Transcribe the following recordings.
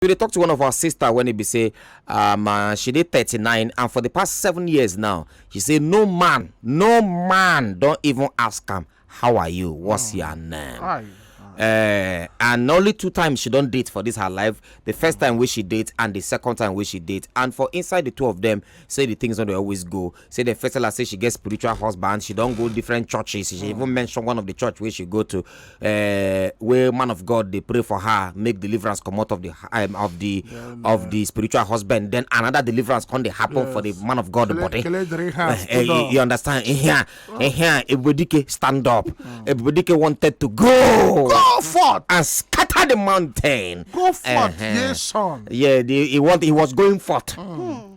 we dey talk to one of our sister when e be say um, uh, she dey 39 and for the past seven years now she say no man no man don even ask am how are you what's oh. your name uh, and only two times she don date for this her life the first time wey she date and the second time wey she date and for inside the two of them say the things no dey always go say dem first tell her say she get spiritual husband she don go different churches she even hmm. mention one of the church wey she go to uh, wey man of god dey pray for her make deliverance comot of the um, of the yeah, of the spiritual husband then another deliverance come dey happen yes. for the man of god kele, body kele uh, uh, you, you understand ehia ehia ebubedike stand up mm. ebubedike wanted to go go forth and scatter the mountain go forth uh -huh. yes son yeah the, he want he was going forth. Mm. Mm.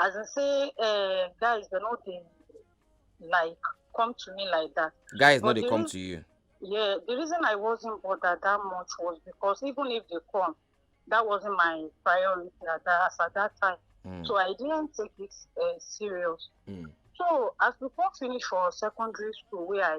as in say uh, guys they no dey like come to me like that. guys no dey come to you. yeah the reason i wasn't bothered that much was because even if they come that wasn't my priority at that, as at that time mm. so i didn't take it uh, serious. Mm. so as we come finish for secondary school where i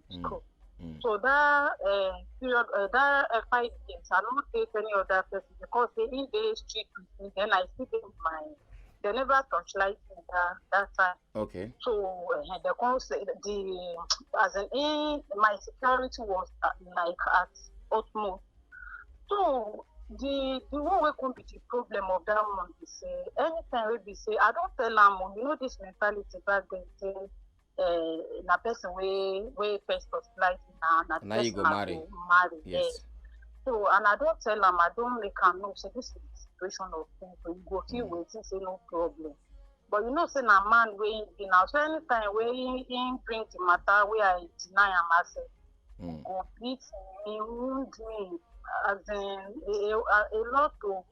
mm, school. Mm. So that uh, period, uh, that uh, five games, I don't take any other person because they in the street with me. Then I see them my. They never touch light in that, that time. Okay. So uh, the concept, the as an in my security was uh, like at utmost. So the the one wey come be the problem of that one be say anytime wey be say i don tell am o oh, you know this mentality back then say uh, na person wey wey first of life na na the Na you person go I marry. go marry Yes. yes. so and i don tell am i don make am know say this is the situation of things so you go feel wetin say no problem but you know say na man wey him be na so anytime wey him him bring the matter wey i deny am as a Mm. Go beat me, wound me, as in a, a, a lot of.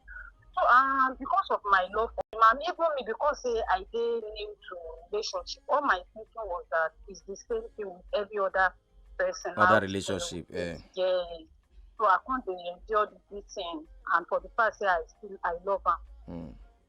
So um, because of my love for him, and even me because say I dey new to relationship, all my thinking was that it's the same thing with every other person. Other out there. relationship, eh. Yeah. So I can't dey endure the beating, and for the fact say I still I love am. Mm.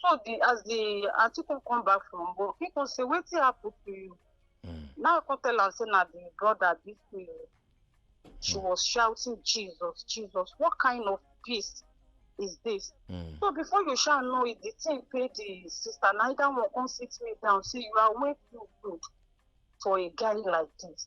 so the as the aunty come come back from work he come say wetin happen to you mm. now i come tell am say na the brother beat me she mm. was shouting jesus jesus what kind of peace is this mm. so before you shall know it the thing pay the sister na either one come sit me down say you are way too good for a guy like this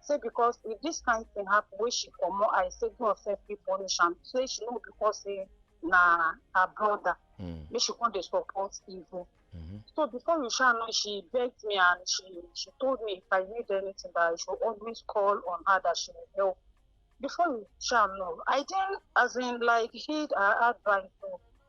say because if this kind thing happen wey she comot eye say god sef fit punish am say she no because say na her brother Mm. make she come dey support evil Mhm. so before you sha know she begged me and she she told me if i need anything that i should always call on her that she will help before you sha know i didn't as in like heed her advice o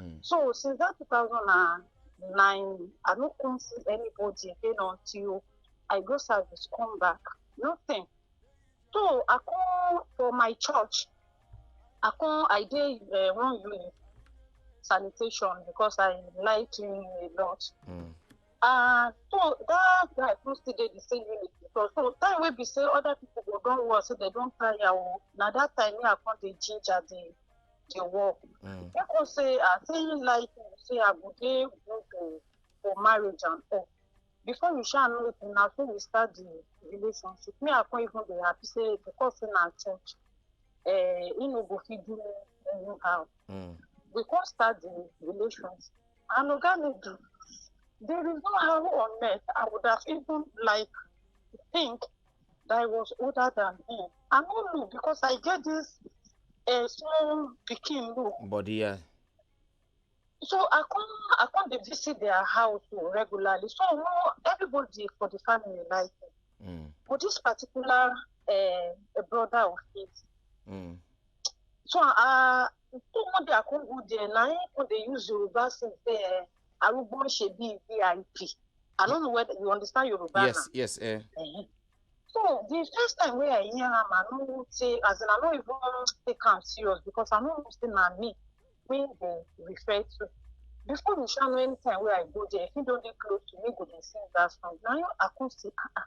Mm. So since that 2009, I don't come see anybody again until I go service, come back. Nothing. So I come for my church. I come, I did uh, one unit sanitation because I like cleaning a lot. Mm. Uh, so that guy who still did the same unit because so time wey be say other people go don work say they don tire o na that time me i come dey ginger the dey work Mm. make us say ah say you like me say i go dey good o for marriage and all before you sha know it na so we start the relationship me i come even dey happy say because say na church eh he no go fit do me anyhow Mm. we come start the relations and oga me do there is no how on earth i would have even like think that I was older than him. I no know because I get this uh, small pikin look. Body, yeah. So I come, I come to visit their house regularly. So no, everybody for the family like him. Mm. But this particular uh, brother of his. Mm. So uh, so one day I come go there, now I come they use Yoruba since there. arúgbó ń ṣe bíi vip i don't know whether you understand Yoruba yes now. yes eh. Uh -huh. so the first time wey i hear am i no say as in i no even take am serious because i no know say na me wey dey refer to before me sha know anytime wey i go there if he don dey close to me go dey sing that song na you i come say ah ah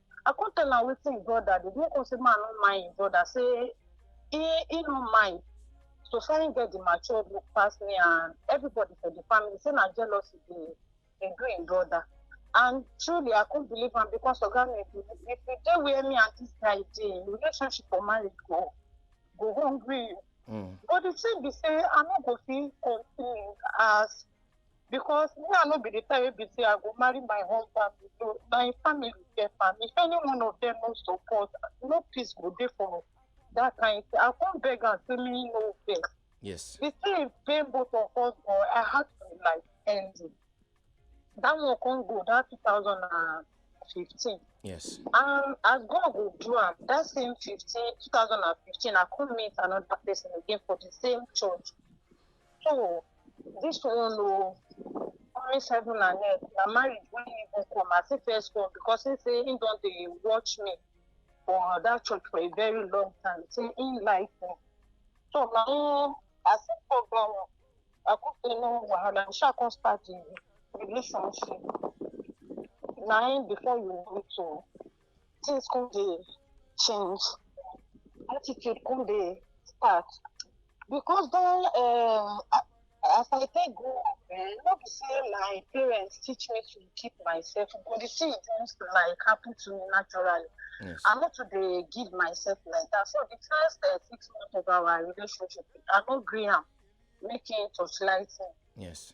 I come tell am wetin him brother dey do. He come say man no mind him brother say he he no mind. So far him get the mature look pass me and everybody for the family say na jealousy dey dey do him brother. And truly I come believe am because oga me if you if you dey where me and this guy dey, relationship or marriage go go hungry you. Mm. But the thing be say I no go fit continue as because me i no be the type wey be say i go marry my husband below na him family get am if any one of them no support no peace go dey for that kind thing i come beg am say me no vex yes the thing pain both of us but i had to like end it that one come go that two thousand and fifteen yes and as god go do am that same fifteen two thousand and fifteen i come meet another person again for the same church So this one o oh, promise heaven and earth na marriage wey him even come as him first come because he say he don dey watch me for that church for a very long time say he like me so na him as him come down i come say no wahala we sha come start the relationship na him before you know it o. Oh, things come dey change attitude come dey start because don um, as i take grow up eh, no be say my parents teach me to keep myself but the thing just like happen to me naturally yes. i no too dey give myself like that so the first uh, six months of our relationship i no gree am make him torchlight me yes.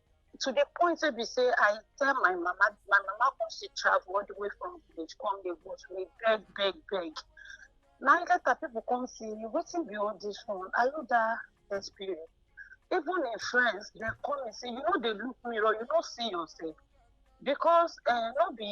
to the point wey be say i tell my mama my mama come still travel all the way from village come dey go to me beg beg beg na later people come see me wetin be all this one are you that desperate even im friends dem call me say you no dey look mirror you no see yourself because uh, no be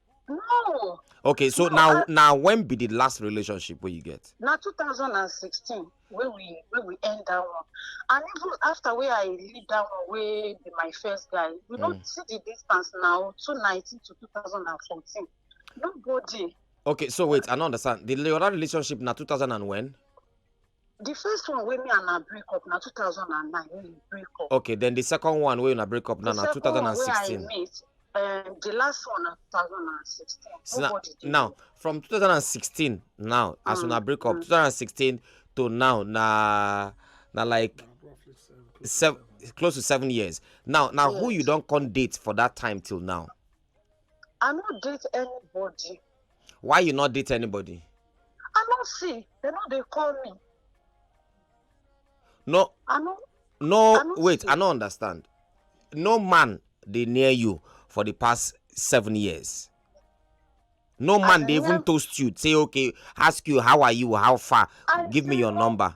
no okay so no, now I, now when be the last relationship where you get now 2016 where we where we end that one and even after where i leave that one where be my first guy we mm. don't see the distance now 2019 to 2014 nobody okay so wait i don't understand the other relationship now 2000 and when the first one wey me and her break up na 2009 wey we break up. okay then the second one wey una break up now na 2016. the second one wey i meet um, the last one na 2016. So now, now from 2016 now mm, as una break up mm. 2016 to now na na like seven, close to seven years now now yes. who you don come date for that time till now. I no date anybody. Why you not date anybody? I no see. They no dey call me. No. I no. No, I no wait. See. I no understand. No man dey near you for the past seven years. No man dey even toast you. Say okay, ask you how are you, how far, I give me your know. number.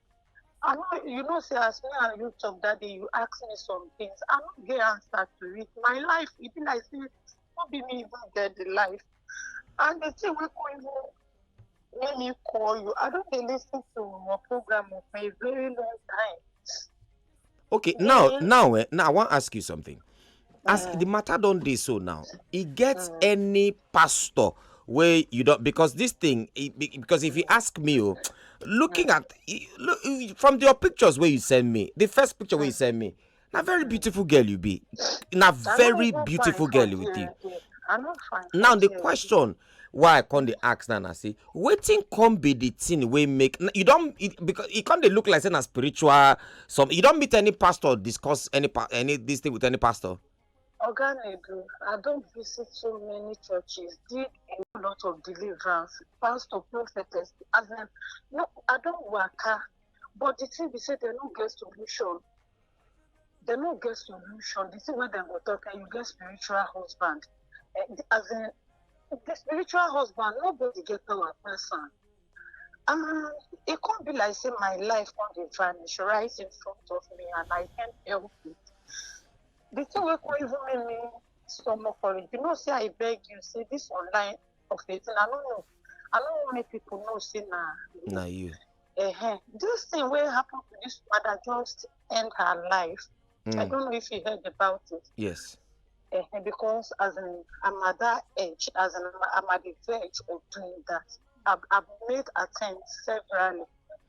I know you know say as me and you talk that day, you ask me some things. I no get answer to it. My life, e be like say no be me even get the life. And the thing wey come even make me call you, I don dey lis ten to your program for a very long time. okay now now eh, now i wan ask you something as the matter don dey so now e get mm. any pastor wey you don because this thing e, because if you ask me o oh, looking mm. at e, look e, from your pictures wey you send me the first picture wey you mm. send me na very beautiful girl you be na very beautiful girl you be now the question why i come dey ask now na say wetin come be the thing wey make you don because e come dey look like say na spiritual some you don meet any pastor discuss any any this thing with any pastor. oga nedu i don visit so many churches did a lot of deliverance pastor prophetess as in no i don waka but the thing be say dem no get solution dem no get solution the thing wey dem go talk and you get spiritual husband eh, as in the spiritual husband nobody get power pass am um, e come be like say my life come dey vanish right in front of me and i can't help it the thing wey come even make me stomach for it you know say i beg you say this online of it and i no know i no wan make people know say na na you uh-huh. this thing wey happen to this mother just end her life mm. i hmm. don't know if you heard about it yes uh-huh. because as in i'm at that age as in i'm at the verge of doing that i've, I've made attempts severally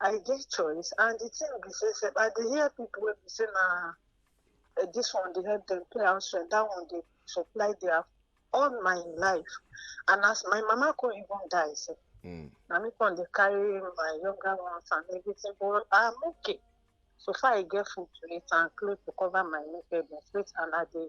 I get choice. And the thing be say, say I dey hear people wey be say na eh, this one dey help them pay house rent, that one dey supply their all my life. And as my mama come even die, say Mm. na me come dey carry my younger ones and everything, but I'm okay. So far I get food to eat and clothes to cover my nakedness, wait and I dey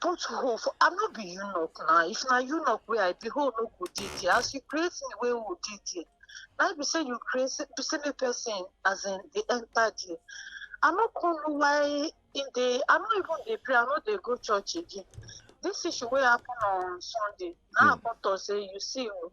put hole for i no be eunuch na if na eunuch wey i be hole no go dey there as you create me wey hole dey there na be say you create say be say make person as in dey enter there i no come know why im dey i no even dey pray i no dey go church again this issue wey happen on sunday na i come talk say you see o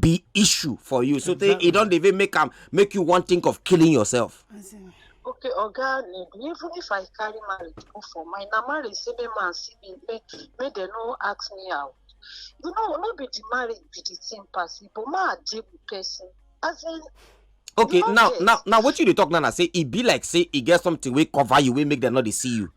be issue for you so exactly. e don dey even make am make you wan think of killing yourself. okay oga even if i carry marriage go for my na marriage say make man see me make make dem no ask me out you know no be the marriage be the thing pass but ma deal with person as in okay now now now what you dey talk now na say e be like say e get something wey cover you wey make dem no dey see you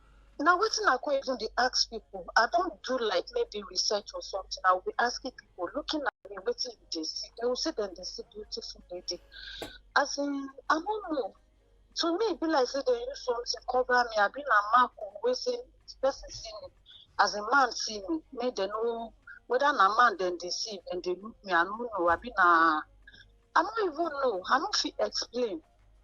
na wetin i come even dey ask people i don do like maybe research or something i will be asking people looking at me wetin you dey see they will say dem dey see beautiful lady as in i no know to me e be like say dem use something cover me abi na mark o wey say person see me as a man see me make dem no whether na man dem dey see dem dey look me i no know abi na i no even know i no fit explain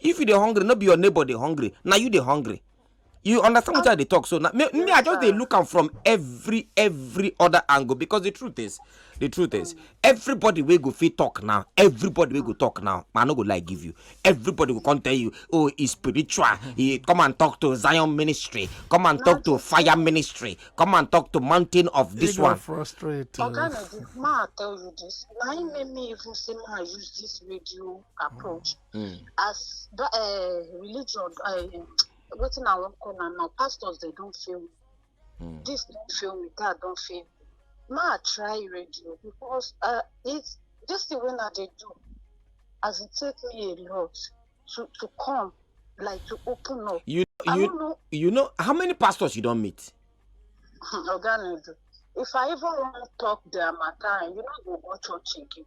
if you dey hungry no be your neighbor dey hungry na you dey hungry you understand what i dey talk so na me, me i just dey look am from every every other angle because the truth is the truth is everybody wey go fit talk now everybody wey go talk now i no go lie give you everybody go come tell you oh e spiritual e come and talk to zion ministry come and talk to fire ministry come and talk to mountain of this They one got frustrated. Oga Nedi, ma I tell you this. Na im make me even say ma I use this radio approach Mm. as the uh, religion uh, wetin i wan call am now pastors dey don fail me Mm. this don fail me that don fail me ma i try radio because uh, it this thing wey i dey do as e take me a lot to to come like to open up You i you no know you know how many pastors you don meet? oga nadu if i even wan talk their matter you no go go church again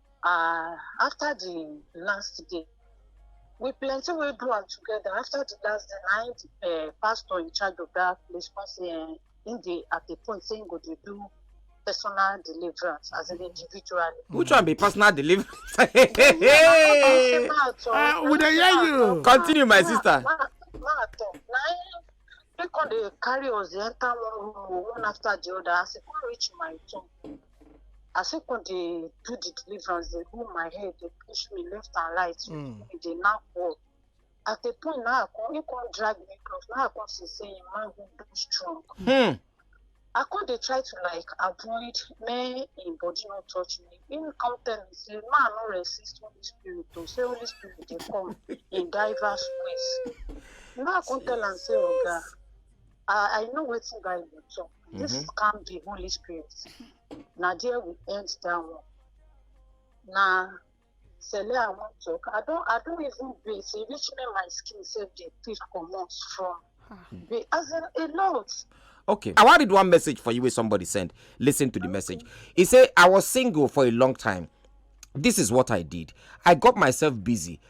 uh, after the last day we plenty wey do am together after the last day na him the uh, pastor in charge of that place come say uh, him dey at a point say him go dey do personal deliverance as an individual. which one be personal deliverance. uh, we dey hear you. continue my sister. ma ma talk na him he come dey carry us dey enter one room one after the other as he come reach my turn. as im come dey do the deliverance dey hold my head dey push me left and right Mm. e dey knack wall at a point na i come im come drag me close na i come see say im manhood don strong Hmm. i come dey try to like avoid make im body no touch me im come tell me say ma i no resist holy spirit o say holy spirit dey come in diverse ways na i come tell am say oga I, I know wetin Bible talk. This Mhm. can be Holy Spirit. Na there we end that one. Na Sele I wan talk. I don I don even bathe. E reach me my skin sef dey peel comot from. Be as in a lot. Okay. I want read one message for you where somebody sent. Listen to the message. He said, I was single for a long time. This is what I did. I got myself busy.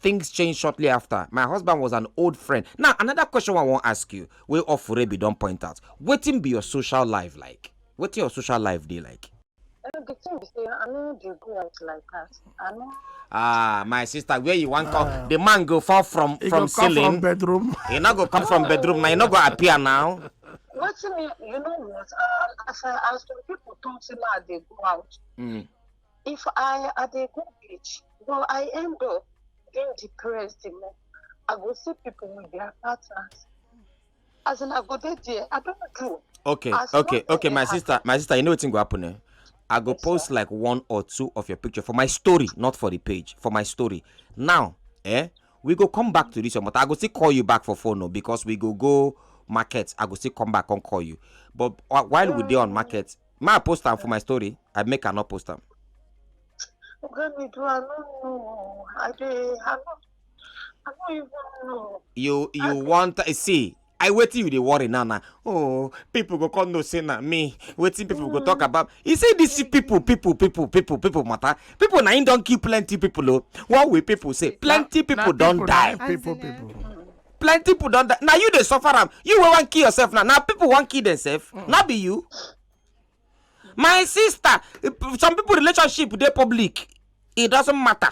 Things changed shortly after. My husband was an old friend. Now, another question I want to ask you, wey Ofurebi don point out, wetin be your social life like? Wetin your social life dey like? Uh, the thing be say I no dey go out like that. I no. Ah, my sister, where you want come? Ah. The man go fall from he from ceiling. From bedroom. He not go come from bedroom now. He not go appear now. What's me? You know what? Uh, as I, as some people talk, say I they go out. Mm. if i i dey go beach but i end up being depressed the more i go see people with their partners as in i go dey there i don't do. okay as okay okay my sister my sister you know wetin go happen eh i go yes, post sir. like one or two of your picture for my story not for the page for my story now eh we go come back to this one but i go still call you back for phone no oh, because we go go market i go still come back and call you but uh, while we dey on market Ma I post am for my story, I make I not post am. Oga me do I no know. I dey I no I no even know. You you want eh, see I wetin you dey worry now na oh people go come know say na me wetin people go talk about you see this people people people people people matter people na him don kill plenty people o one way people say plenty people don die. People, people. plenty people don die na you dey suffer am you wey wan kill yourself now na people wan kill themselves mm. no be you my sister some people relationship dey public it doesn't matter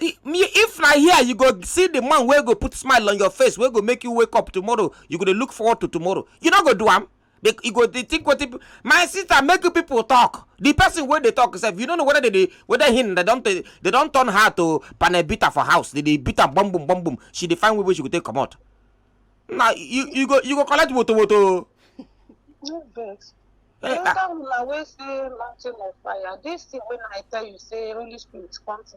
if na here you go see the man wey go put smile on your face wey go make you wake up tomorrow you go dey look forward to tomorrow you no go do am They, you go dey think what people. My sister, make you people talk. The person where they talk sef, you don't know whether they, dey whether him they don't they don't turn her to panel beater for house. They dey beat her bum bum bum bum. She define where she go take come out. Now you you go you go collect woto woto. No vex. Eh, The ah. other one na wey say mountain of fire. This thing when I tell you say Holy Spirit come to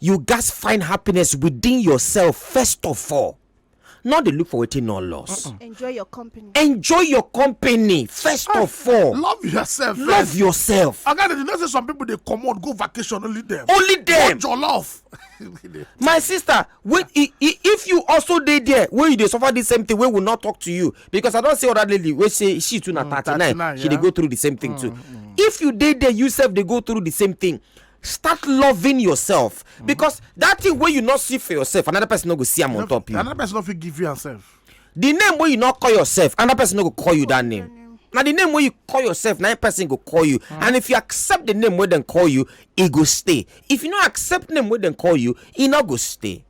you gats find happiness within yourself first of all no dey look for wetin no loss enjoy your company enjoy your company first ah, of all love yourself love yourself oga you know say some people dey comot go vacation only them. only them. watch your love my sister wait if you also dey there wey you dey suffer the same thing wey will not talk to you because i don see other lady wey say she too na mm, thirty nine she dey go through the same thing too mm, mm. if you dey there you sef dey go through the same thing start loving yourself mm-hmm. because that thing wey you no see for yourself another person no go see am on top you another person no fit give you yourself. the name wey you no call yourself another person no go call you that name na the name wey you call yourself na person go call you mm. and if you accept the name wey dem call you e go stay if you no accept name wey dem call you e no go stay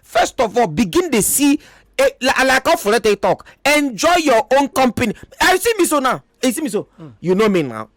first of all begin dey see eh, like how folete talk enjoy your own company i see me so now you see me so mm. you know me now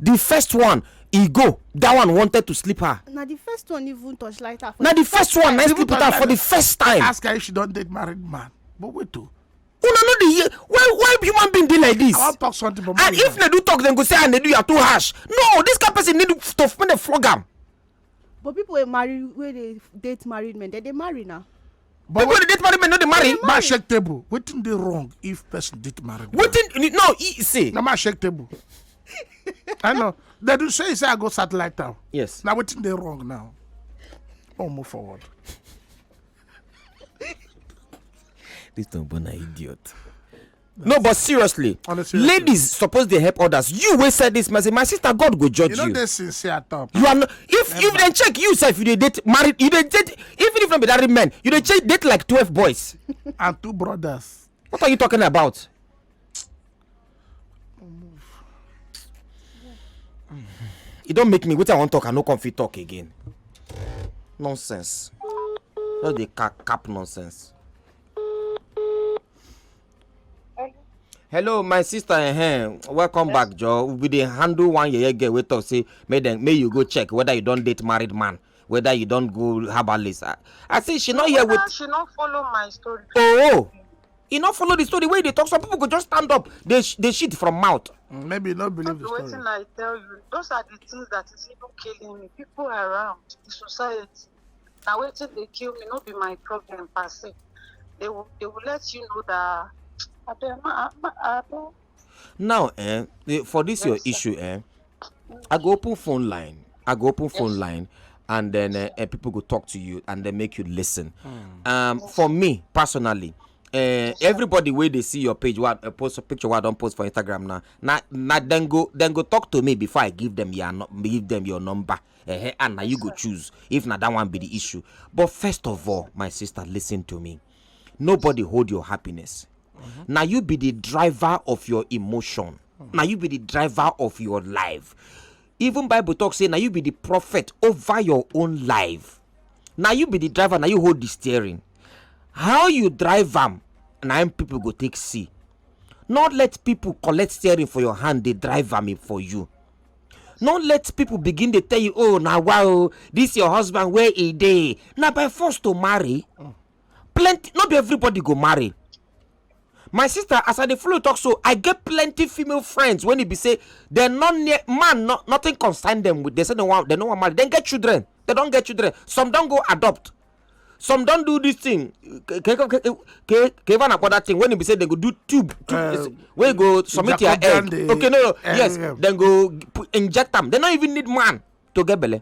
the first one e go that one wanted to sleep her na the first one even touch light her na the first one na sleep her for the first time ask her if she don date married man but wait o una no dey hear why why human being dey like this i wan talk something for and if nedu talk dem go say ah nedu you are too harsh no this kind person need to make dem flog am but people wey marry wey dey date married men dem dey marry now But People dey date married men no dey marry. Ma shake table. Wetin dey wrong if person date married man? Wetin no e say. Na ma shake table. I know. They do say say I go satellite town. Yes. Now wetin dey wrong now? Oh, move forward. This Tombona idiot. no but seriously On a serious ladies suppose dey help others you wey send this message my sister god go judge You know you they sincere at all. you are not if if dem check you sef you dey date married you dey date even if no be married men you dey check date like twelve boys And two brothers. what are you talking about e don make me wetin i wan talk i no come fit talk again nonsense just dey cap cap nonsense hello my sister ehem welcome back joe we dey handle one yeye girl wey talk say make dem make you go check whether you don date married man whether you don go herbalist i, I say she no hear with. she no follow my story. oh e no follow the story wey you dey talk some people go just stand up dey dey shit from mouth. Mm, maybe you no believe the story. wetin i tell you those are the things that is even killing me people around the society na wetin dey kill me no be my problem per se they will they will let you know that abeg ma ma abeg. now eh, eh for this yes, your sir. issue eh i go open phone line i go open yes. phone line and then yes, uh, uh, people go talk to you and then make you listen mm. um yes. for me personally uh, everybody wey dey see your page wey uh, post picture wey i don post for instagram now na na dem go dem go talk to me before i give them your give them your number. eh and na you go choose if na that one be the issue but first of all my sister listen to me nobody hold your happiness na you be the driver of your emotion na you be the driver of your life even bible talk say na you be the prophet over your own life na you be the driver na you hold the steering how you drive am na im people go take see not let people collect steering for your hand dey drive am for you no let people begin dey tell you oh na wa oh this your husband where e dey na by force to marry plenty no be everybody go marry my sister as i dey follow talk so i get plenty female friends when e be say dem no near man no nothing concern dem with dem say dem wan dem no wan marry dem get children dem don get children some don go adopt some don do this thing keva na kwada thing when e be say dem go do tube eh, wey go submit your egg okay no no eh, yes eh. dem go inject am dem no even need man to get belle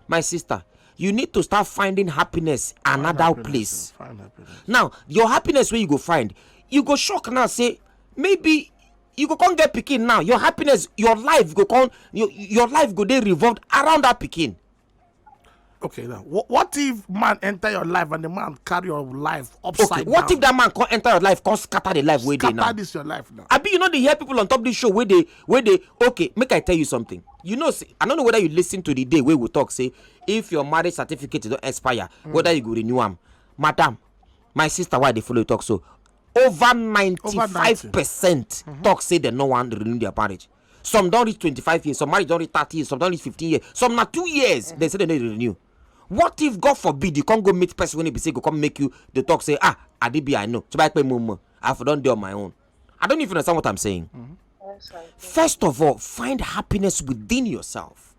my sister you need to start finding happiness another place now your happiness wey you go find you go shock now say maybe you go come get pikin now your happiness your life go come your life go dey revolved around that pikin Okay, now what, what if man enter your life and the man carry your life upside okay, what down? if that man come enter your life come scatter the life where they now? Scatter this your life now. I be you know they hear people on top this show where they where they okay make I tell you something. You know see, I don't know whether you listen to the day where we talk say if your marriage certificate don't expire mm. whether you go renew them, madam my sister why they follow talk so over ninety five percent mm-hmm. talk say they no one renew their marriage. some don reach twenty-five years some marriage don reach thirty years some don reach fifteen years some na two years dem say dem no dey renew what if god forbid you come go meet person wey e be say go come make you dey talk say ah adibi i know tuba ipe mo mo i for don dey on my own i don't even understand what i'm saying mm -hmm. first of all find happiness within yourself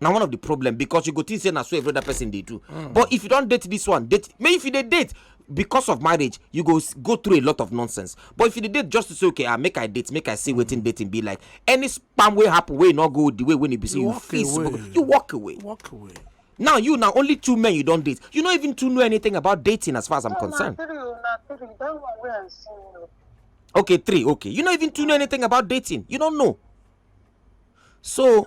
na one of the problem because you go think say na so every other person dey do mm. but if you don date this one date may if you dey date because of marriage you go go through a lot of nonsense but if you dey date just to say okay ah make i date make i see wetin dating be like any spam wey happen wey no go the way wey e be say you, you fit you walk away walk away now you na only two men you don date you no even too know anything about dating as far as i'm no, concerned na three o oh, na three that one wey i see o. okay three okay you no even too know anything about dating you no know so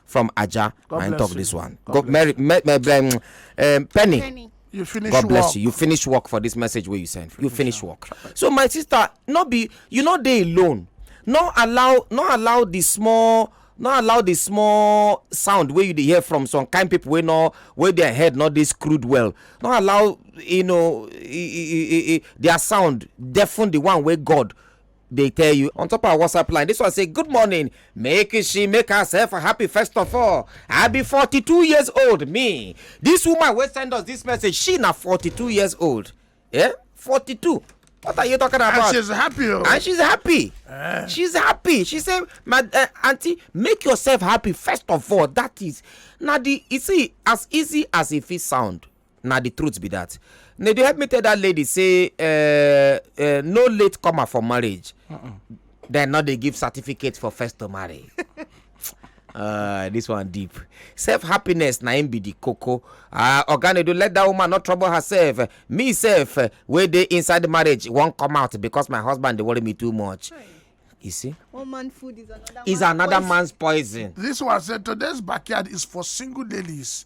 from Aja. God I bless talk you. this one. God Go, bless Mary, me, me, um, um, Penny. Penny. You finish God bless work. you. You finish work for this message where you send. You finish work. So my sister, not be you know they alone. Not allow not allow the small not allow the small sound where you dey hear from some kind people wey no wey their head no dey screwed well no allow you know e, e, e, e, e their sound deafen the one wey god dey tell you on top our whatsapp line this one say good morning make she make herself happy first of all i be 42 years old me this woman wey send us this message she na 42 years old yeah 42 what are you talking about and she's happy oh. and she's happy uh. she's happy she say my uh, aunty make yourself happy first of all that is na the you see as easy as e fit sound na the truth be that na dey help me tell that lady say uh, uh, no late comer for marriage uh -uh. dem no dey give certificate for first to marry uh, this one deep self happiness na im be the koko uh, ah, oganedo let that woman not trouble herself me sef uh, wey dey inside marriage wan come out because my husband dey worry me too much. Right. You see? One man food is another, is man's, another poison. man's poison. This one said today's backyard is for single ladies.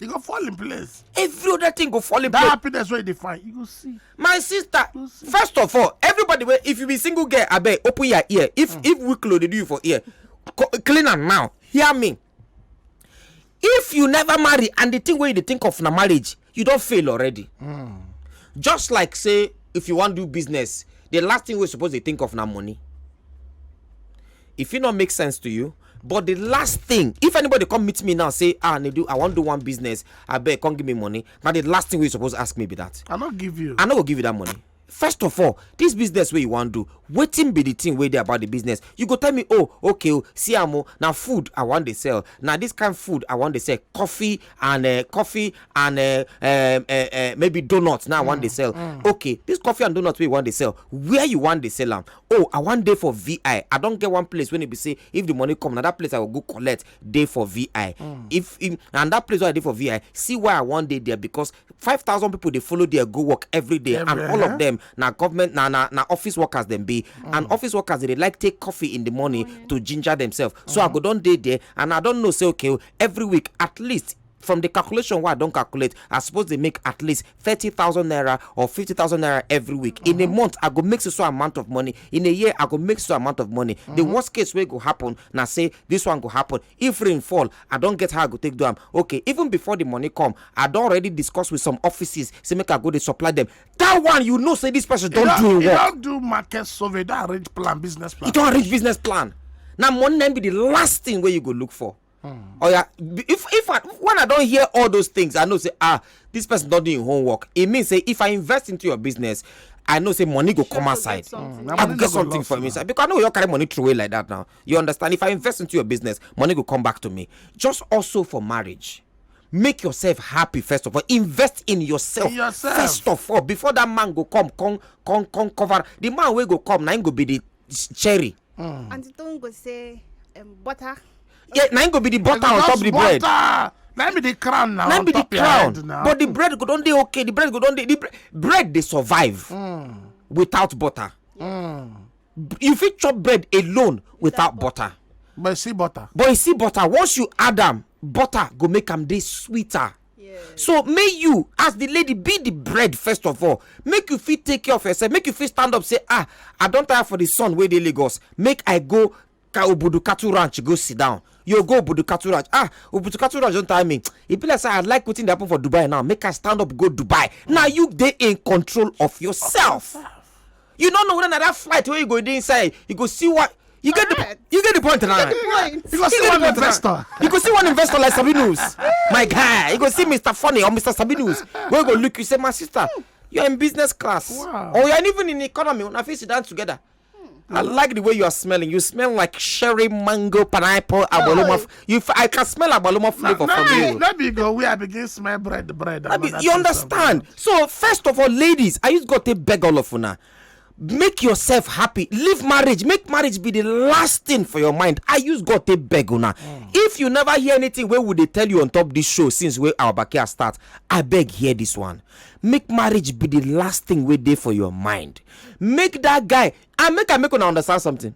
e go fall in place every other thing go fall in that place happiness wey you dey find you go see my sister You see. first of all everybody wey if you be single girl abeg open your ear if if wiklo dey do you for ear co- clean am now hear me if you never marry and the thing wey you dey think of na marriage you don fail already just like say if you wan do business the last thing wey you suppose dey think of na money e fit not make sense to you but the last thing if anybody come meet me now say ah nedu i wan do one business abeg come give me money na the last thing wey you suppose ask me be that i no give you i no go give you that money first of all this business wey you wan do wetin be the thing wey dey about the business you go tell me oh okay o oh, see am o na food i wan dey sell na this kind food i wan dey sell coffee and uh, coffee and uh, uh, uh, uh, maybe donuts na i wan dey mm, sell mm. okay this coffee and donuts wey you wan dey sell where you wan dey sell am oh i wan dey for vi i don get one place wey e be say if the money come na that place i go go collect dey for vi mm. if and that place wey i dey for vi see why i wan dey there because five thousand people dey follow there go work every day and all of them na government na na na office workers dem be mm. and office workers dey like take coffee in the morning oh, to ginger themselves so i mm. go don dey there and i don know say okay oh, every week at least from the calculation wey i don calculate i suppose dey make at least thirty thousand naira or fifty thousand naira every week in a mm-hmm. month i go make so so amount of money in a year i go make so amount of money the mm-hmm. worst case wey go happen na say this one go happen if rain fall i don get how i go take do am okay even before the money come i don already discuss with some offices say make i go dey supply them that one you know say this person don do im work. you don do market survey don arrange plan business plan. you don arrange business plan na money na be the last thing wey you go look for. Mm. Oh yeah, if if I, when I don't hear all those things, I know say ah this person not doing homework. It means say if I invest into your business, I know say money go come outside. Mm. I go get something from inside because I know you carry money throw away like that now. You understand? If I invest into your business, money go come back to me. Just also for marriage make yourself happy first of all invest in yourself, in yourself. first of all before that man go come come come come cover the man wey go come na him go be the cherry. Mm. aunty toyin go say um, butter. yeah na im go be the butter on top the bread. butter na be the crown now. na be the crown but the bread go don dey okay the bread go don dey the bread dey survive mm. without butter mm. you fit chop bread alone without butter but you see butter but you see butter once you add am butter go make am dey sweeter Yes. so may you as the lady be the bread first of all make you fit take care of yourself make you fit stand up say ah i don tire for the sun wey dey lagos make i go ka obudu cattle ranch go sit down you go obudu cattle ranch ah obudu cattle ranch don tire me e be like say i like wetin dey happen for dubai now make i stand up go dubai now you dey in control of yourself. You don't know whether na that flight where you go dey inside, you go see what you get the you get the point now. You go see one investor. You go see one investor like Sabinus, my guy. You go see Mr. Funny or Mr. Sabinus. Where go look, you say, my sister, you're in business class, wow. or you're even in economy. When I face it down together. I like the way you are smelling. You smell like sherry, mango, pineapple, abolomaf. You, I can smell agbaluma flavor no, from no, you. No be go where I begin smell bread, bread. I be, you understand? So first of all, ladies, I just got to beg all of una. Make yourself happy. Leave marriage. Make marriage be the last thing for your mind. I use God to beg una. Mm. If you never hear anything, where would they tell you on top this show since where our backyard start? I beg hear this one. Make marriage be the last thing we day for your mind. Make that guy. I make I make una understand something.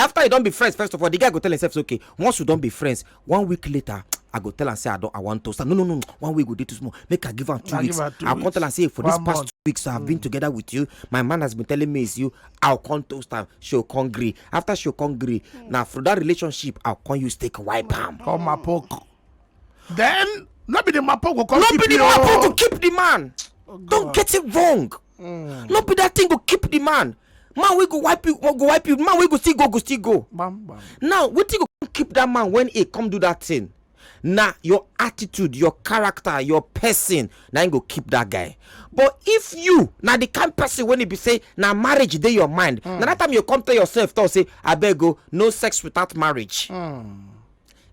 after you don be friends first of all the guy go tell himself say okay once you don be friends one week later i go tell am say i don i wan toast am no no no one week go dey too small make i give am two weeks i come tell am say for this past two weeks i have been mm. together with you my man has been telling me it's you i come toast am she go come gree after she go come gree mm. na for that relationship i come use take wipe am. come mapoku then no be the mapoku come keep you. no be the mapoku keep the man oh, don't get it wrong. Mm. no be that thing go keep the man man wey go wipe you go wipe you man wey go still go go still go bam, bam. now wetin go keep that man when he come do that thing na your attitude your character your person na him go keep that guy but if you na the kind person wey e be say na marriage dey your mind mm. na that time you come tell yourself talk say abeg o oh, no sex without marriage mm.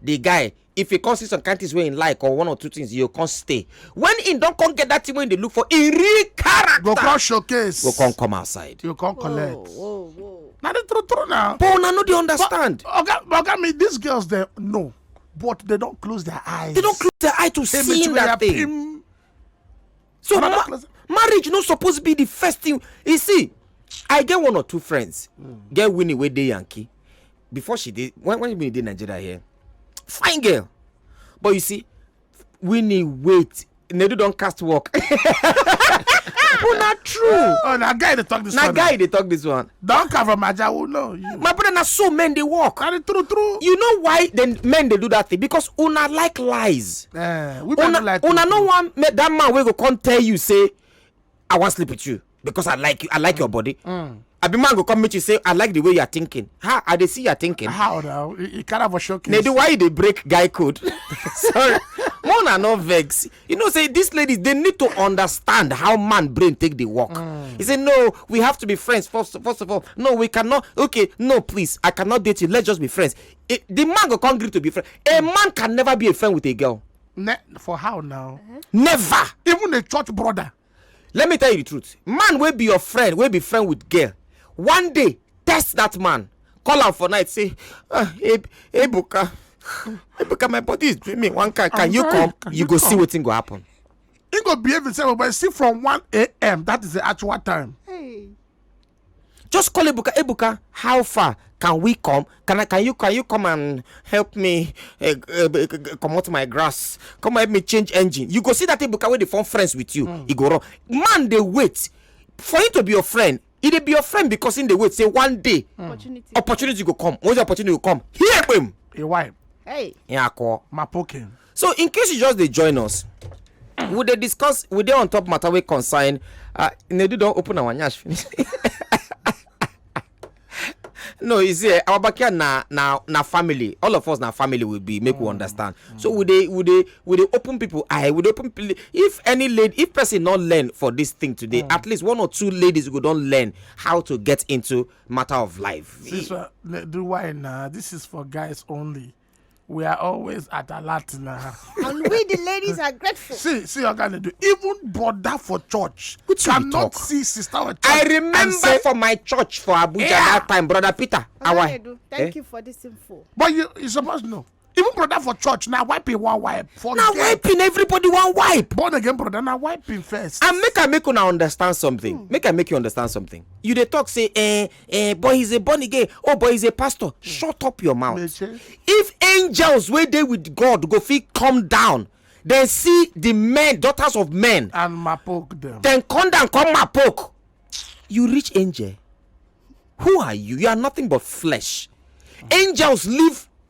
the guy if he come see some kind things wey he like or one or two things he go come stay when he don come get that thing wey he dey look for he real character go come showcase go come come outside you come collect whoa, whoa, whoa. na the true true na but una no dey understand but oga but oga me these girls dey know but they don close their eyes they don close their eye to see that thing. so ma marriage no suppose be the first thing you see i get one or two friends mm. get winnie wey dey yankee before she dey when when winnie dey nigeria here fine girl but you see winnie wait nedu don cast work oh na true oh na guy dey talk this one na guy dey talk this one Don come from Ajawu, no. You. My brother, na so men dey work. Na the true true. You know why the men dey do that thing? Because una like lies. Eh, women una, no like Una no wan make that man wey go come tell you say, I wan sleep with you because I like you, I like mm. your body. Mm. Abi man go come meet you say, I like the way you are thinking. How I dey see you are thinking. How now? You, you can't have a showcase. Nedu, why you dey break guy code? Sorry. Mona no vex. you know say these ladies they need to understand how man brain take the work mm. he say no we have to be friends first, first of all no we cannot okay no please i cannot date you let's just be friends it, the man go come agree to be friend a mm. man can never be a friend with a girl ne for how now uh-huh. never even a church brother let me tell you the truth man wey be your friend wey be friend with girl one day test that man call am for night say ah ebuka ebuka my body is doing me one kind can you come you go see wetin go happen he go behave himself but see from 1 a.m that is the actual time hey. Just call Ebuka. Ebuka, how far can we come? Can I? Can you? Can you come and help me uh, uh, uh, come out my grass? Come help me change engine. You go see that Ebuka wey dey form friends with you. Mm. He go run. Man dey wait for him to be your friend. He dey be your friend because him dey wait say one day mm. opportunity. opportunity go come. Once the opportunity go come, here him. Your wife. Hey. Yeah, call. My poking. so in case you just dey join us we dey discuss we dey on top matter wey concern uh, nedu don open our nyash finish no you see eh, our backyard na na na family all of us na family we be make we mm. understand so we dey we dey we dey open people eye we dey open people if any lady if person no learn for this thing today mm. at least one or two ladies go don learn how to get into matter of life. sister do why na this is for guys only. we are always at alert now. and we the ladies are grateful. see see oga ndu even brother for church Which cannot talk? see sister for church. i remember say, for my church for abuja yeah. that time brother peter awa. Eh? thank eh? you for this info. but you you suppose know even brother for church na wiping one wipe. forget na wiping everybody one wipe. born again brother na wiping first. and make i make una understand something hmm. make i make you understand something you dey talk say eh eh but he's a born again oh but he's a pastor hmm. shut up your mouth if angels wey dey with god go fit come down then see the men daughters of men and mapoke them then come down come mapoke you reach angel who are you you are nothing but flesh angels live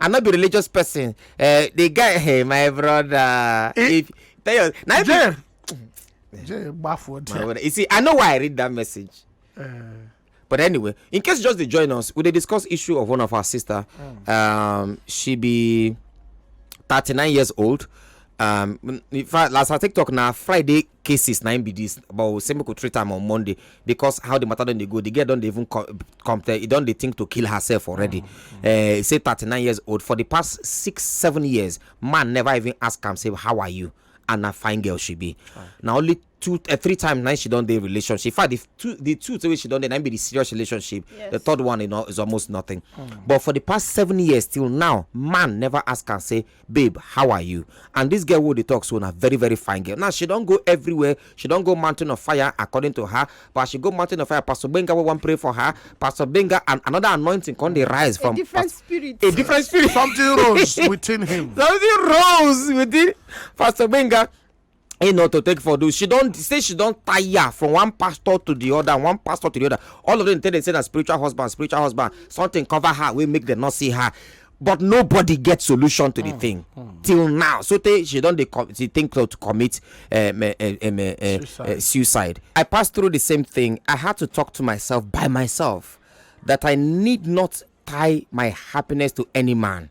i no be religious person uh, the guy hey my brother it, eh, if tell your na jay jay gbafo there you see i know why i read that message. Uh, but anyway in case you just dey join us we dey discuss issue of one of our sister mm. um, she be thirty-nine years old um, in fact last her tiktok na friday cases na im be this but we say make we treat am on monday because how the matter don dey go the girl don dey even co- come tell e don dey think to kill herself already Eh, e say thirty-nine years old for the past six seven years man never even ask am say how are you and na fine girl she be na only two eh, three times na she don dey relationship in fact the two the two wey she don dey na im be the serious relationship the third one you know, is almost nothing but for the past seven years till now man never ask am say Babe how are you and this girl wey we dey talk so na very very fine girl now she don go everywhere she don go mountain of fire according to her but as she go mountain of fire pastor gbenga wey wan pray for her pastor gbenga and another anointing come dey rise from a different Pas- spirit. a different spirit Something rose within him. something rose within pastor gbenga you know to take for do she don say she don tire from one pastor to the other one pastor to the other all of them tell them say na spiritual husband spiritual husband something cover her wey make them not see her but nobody get solution to the mm. thing mm. till now so tey she don dey she think to commit um, uh, um, uh, suicide. Uh, suicide i pass through the same thing i had to talk to myself by myself that i need not tie my happiness to any man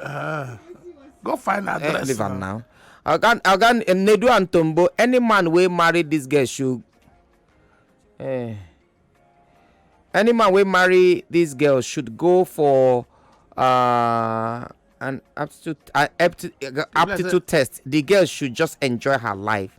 Uh, go find eh, address. Leave am now. Oga Oga Nedu and Tombo, any man wey marry this girl should. Eh, any man wey marry this girl should go for uh, an aptitude uh, aptitude, uh, aptitude test. The girl should just enjoy her life.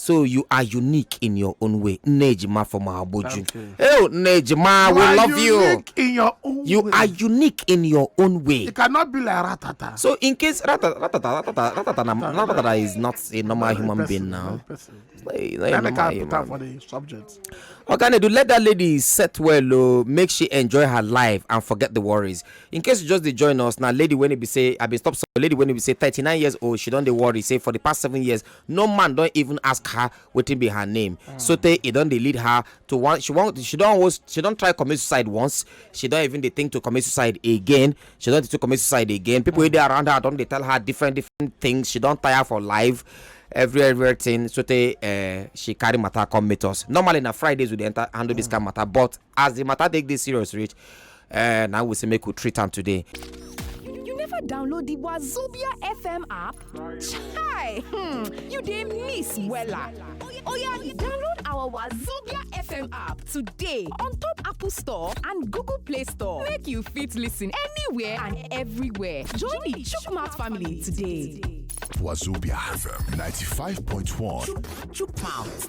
So you are unique in your own way. Nejima from Abuju. Hey, Nejima, we love you. In your own you way. are unique in your own way. It cannot be like Ratata. So in case Ratata, Ratata, Ratata, Ratata, Ratata is not a normal human being now. It's not, it's not a normal human. for the subject. Okay, do let that lady set well, oh, make she enjoy her life and forget the worries. In case you just dey join us now, lady when it be say, I be stop. So lady when it be say 39 years old, she don't dey worry. Say for the past seven years, no man don even ask her wetin be her name mm. sotey e don dey lead her to one she wan she don always she don try commit suicide once she don even dey think to commit suicide again she don dey to commit suicide again people wey dey around her don dey tell her different different things she don tire for life every everything sotey uh, she carry matter come meet us normally na fridays we dey enter handle mm. this kind matter but as the matter take dey serious reach eh, na we say make we treat am today. You never download the Wazobia FM app? Chai! Hmm, you dey miss wella. Oya, download our Wazobia FM app today on top Apple Store and Google Play Store. Make you fit listen anywhere and everywhere. Join the Chukmat family today. Wazobia FM 95.1. Chukmouth.